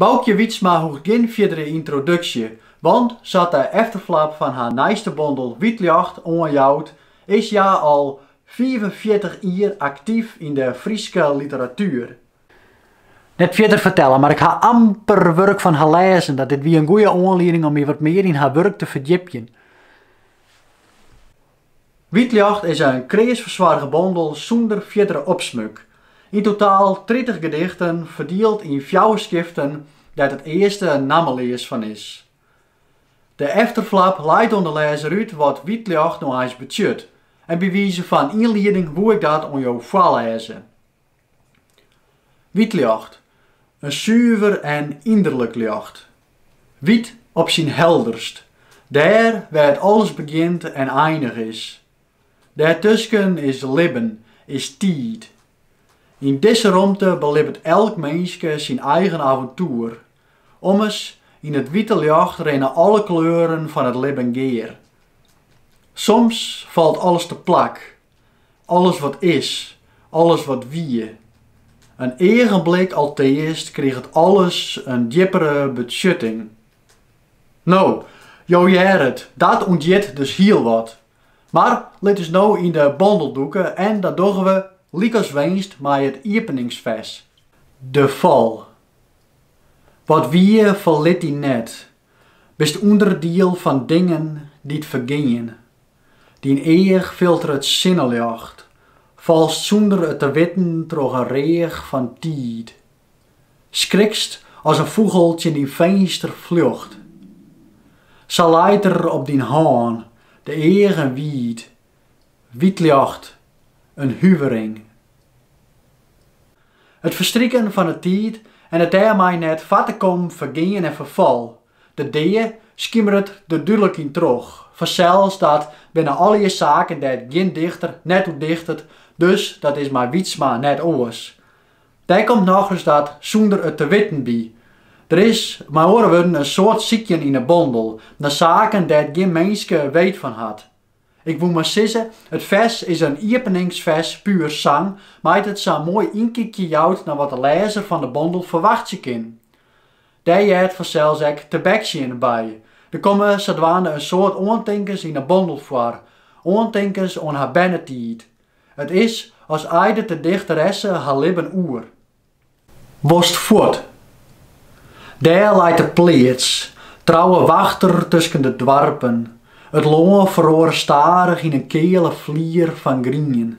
Baukje Wytsma hoecht gjin fierdere yntroduksje, want sa't de efterflap fan har nijste bondel Wyt Ljocht oanjout, is hja al fiifenfjirtich jier aktyf yn de Fryske literatuer. Net fierder fertelle, mar ik ha amper wurk fan har lêzen, dat dit wie in goede oanlieding om my wat mear yn har wurk te ferdjipjen. Wyt ljocht is in kreas fersoarge bondel sûnder fierdere opsmuk. Yn totaal tritich gedichten, ferdield yn fjouwer skiften dêr't it earste nammeleas fan is. De efterflap leit oan de lêzer út wat Wyt ljocht no eins betsjut, en by wize fan ynlieding woe ik dat oan jo foarlêze. Wyt ljocht, in suver en ynerlik ljocht. Wyt op syn helderst, dêr wêr't alles begjint en einich is. Dêrtusken is libben, is tiid. Yn dizze romte belibbet elk minske syn eigen aventoer. Ommers, yn it wite ljocht rinne alle kleuren fan it libben gear. Soms falt alles teplak, Alles wat is, alles wat wie. In eagenblik alteast kriget alles in djippere betsjutting. No, jo hearre it, dat ûnthjit dus hiel wat. Mar lit ús no yn de bondel dûke en dat dogge we lykas winst mei it iepeningsfers. De fal. Wat wie, ferlit dy net. Bist ûnderdiel fan dingen dy't fergean. Dyn each filteret sinneljocht. Falst sûnder it te witten troch in reach fan tiid. Skrikst as in fûgel tsjin dyn finster fljocht. Sa leit er op dyn hân de eagen wiid, wyt ljocht, in huvering. It ferstriken fan 'e tiid en it dêrmei net foar te kommen fergean en ferfal, De dea skimeret der dúdlik yn troch. Fansels dat binne allegear saken dêr't gjin dichter net oer dichtet, dus dat is mei Wytsma net oars. Dêr komt nochris dat sûnder it te witten by. Der is mei oare wurden in soad sykjen yn 'e bondel nei saken dêr't gjin minske weet fan hat. Ik woe mar sizze, it fers is in iepeningsfers pur sang, mei't it sa'n moai ynkykje jout nei wat de lêzer fan 'e bondel ferwachtsje kin. Dêr heart fansels ek tebeksjen by. Der komme sadwaande in soad oantinkens yn 'e bondel foar, oantinkens oan har bernetiid. It is as eidet de dichteresse har libben oer. Wolst fuort? Dêr leit de pleats, trouwe wachter tusken de doarpen. It lân feroare stadich yn in keale flier fan grien.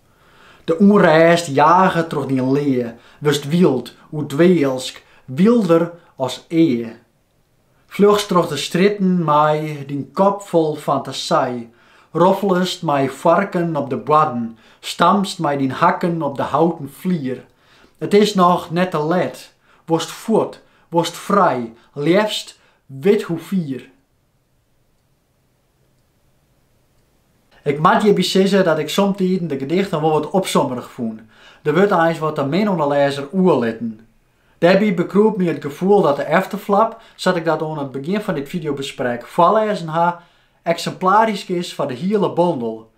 De ûnrêst jage troch dyn lea, wurdst wyld, oerdwealsk, wylder as ea. Fljochst troch de strjitten mei dyn kop fol fantasy, roffelest mei foarken op de boarden, stampst mei dyn hakken op de houten flier. It is noch net te let, wolst fuort, wolst frij, leafst withoefier. Ik moat hjirby sizze dat ik somtiden de gedichten wol wat opsommerich fûn. Der wurdt eins wat te min oan de lêzer oerlitten. Dêrby bekroep my it gefoel dat de efterflap, sa't ik dat oan it begjin fan dit fideobesprek foarlêzen ha, eksimplarysk is foar de hiele bondel.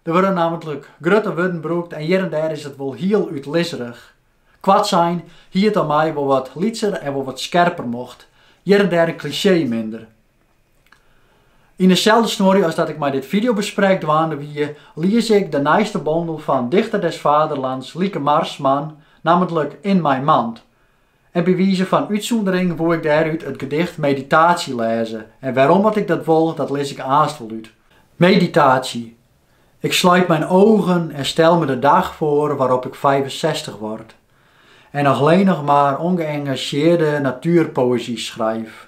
Der wurde nammentlik grutte wurden brûkt en hjir en dêr is it wol hiel útlisserich. Koartsein hie it om my wol wat lytser en wol wat skerper mocht, hjir en dêr in klisjee minder. Yn deselde snuorje as dat ik mei dit fideobesprek dwaande wie, lies ik de nijste bondel fan Dichter des Vaderlands Lieke Marsman, nammentlik In mijn mand. En by wize fan útsûndering woe ik dêrút it gedicht Meditatie lêze en wêrom't ik dat wol, dat lis ik aanst wol út. Meditatie. Ik sluit mijn ogen en stel me de dag voor waarop ik vijfenzestig word en alleen nog maar ongeëngageerde natuurpoëzie schrijf.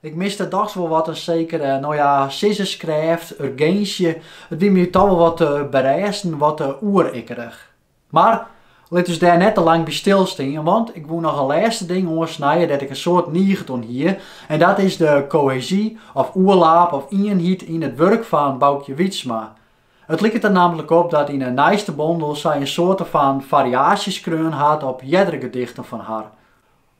Ik miste dochs wol wat in sekere, no ja, sizzenskrêft, urginsje. It wie my toch wol wat te berêstend, wat te oerekkerich. Mar lit ús dêr net te lang by stilstean, want ik woe noch in lêste ding oansnije dêr't ik in soad niget oan hie, en dat is de kohezy of oerlaap of ienheid yn it wurk fan Baukje Wytsma. It liket der nammentlik op dat yn 'e nijste bondel sy in soarte fan fariaasje skreaun hat op eardere gedichten fan har.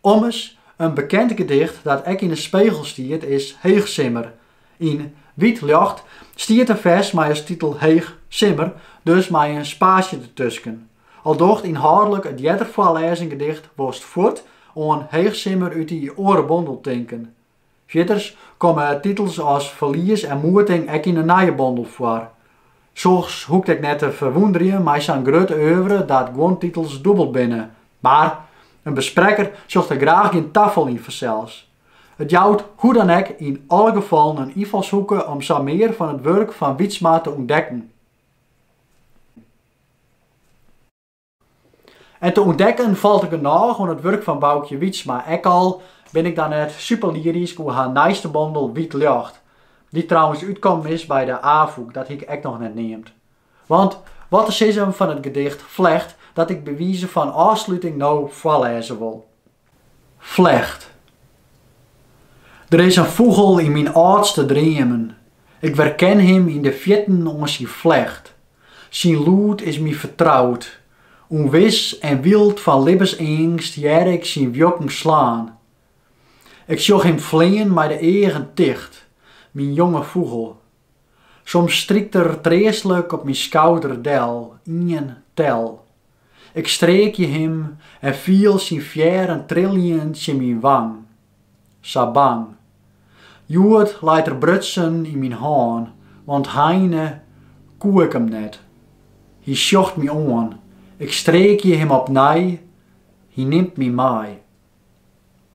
Ommers, in bekend gedicht dat ek yn de Spegel stiet is Heechsimmer. Yn Wyt Ljocht stiet in fers mei as titel Heech simmer, dus mei in spaasje dertusken. Al docht ynhâldlik it earder foarlêzen gedicht Wolst fuort oan Heechsimmer út dy oare bondel tinken. Fierders komme titels as Ferlies en Moeting ek yn 'e nije bondel foar. Soks hoecht ek net te ferwûnderjen, mei sa'n grut oeuvre dat guon titels dûbel binne. Mar, in besprekker sjocht der graach gjin tafal yn fansels. It jout hoe dan ek yn alle gefallen in ynfalshoeke om sa mear fan it wurk fan Wytsma te ûntdekken. En te ûntdekken falt der genôch oan it wurk fan Baukje Wytsma. Ek al bin ik dan net super lyrysk oer har nijste bondel Wyt Ljocht, dy't trouwens útkommen is by de Afûk, dat hie ik ek noch net neamd. Want wat te sizzen fan it gedicht Flecht dat ik by wize fan ôfsluting no foarlêze wol. Flecht. Der is in fûgel yn myn âldste dreamen. Ik werken him yn de fjirten oan syn flecht. Syn lûd is my fertroud. Unwis en wyld fan libbenseangst hear ik syn wjokken slaan. Ik sjoch him flean mei de eagen ticht, myn jonge fûgel. Soms strykt er treastlik op myn skouder del, ien, tel. Ik streekje him en fiel syn fearren trilljen tsjin myn wang. Sa bang. Hjoed leit er brutsen yn myn hân, want heine koe ik him net. Hy sjocht my oan, ik streekje him opnij, hy nimt my mei.